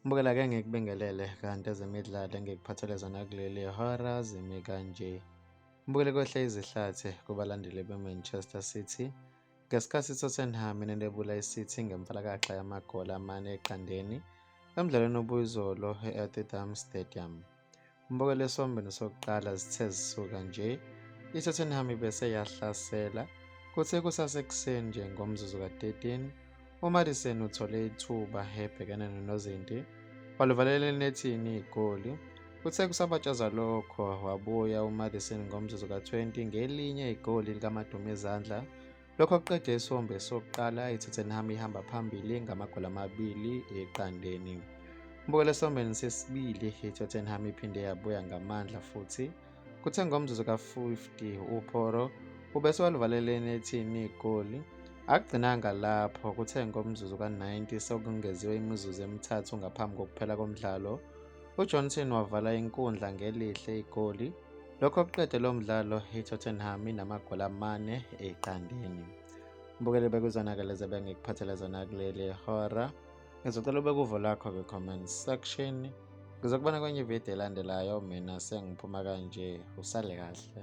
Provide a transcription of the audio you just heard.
Mbukela ke ngikubingelele kanti ezemidlalo engikuphathele zona kuleli hora zimi kanje. Mbukele kwehle izihlathi kubalandeli be-Manchester City ngesikhathi iTottenham inentebula iCity ngemfalakaxa yamagoli amane eqandeni emdlalweni obuyizolo e-Etihad Stadium. Umbukelwa esiwombeni sokuqala zithe zisuka nje, iTottenham ibese yahlasela. Kuthe kusasekuseni nje ngomzuzu ka-13, uMadison uthole ithuba ebhekene nonozinti, walivalela enethini igoli. Kuthe kusabatshazwa lokho, wabuya uMadison ngomzuzu ka-20 ngelinye igoli likamadumizandla Lokho kuqede isombe sokuqala iTottenham ihamba phambili ngamagoli amabili eqandeni. Mbukela esombeni sesibili iTottenham iphinde yabuya ngamandla futhi kuthe ngomzuzu ka-50 uPoro ubesewalivalela enethini igoli Akugcinanga lapho kuthe ngomzuzu ka-90 sekungeziwe imizuzu emithathu ngaphambi kokuphela komdlalo, uJohnson wavala inkundla ngelihle igoli Lokho kuqede lo mdlalo iTottenham inamagoli amane eqandeni. Mbukeli bekuzona-ke lezi ebengikuphathele zona kuleli hora. Ngizocela ube kuvo lakho kwi-comment section. Ngizokubona kwenye ividiyo elandelayo mina sengiphuma kanje usale kahle.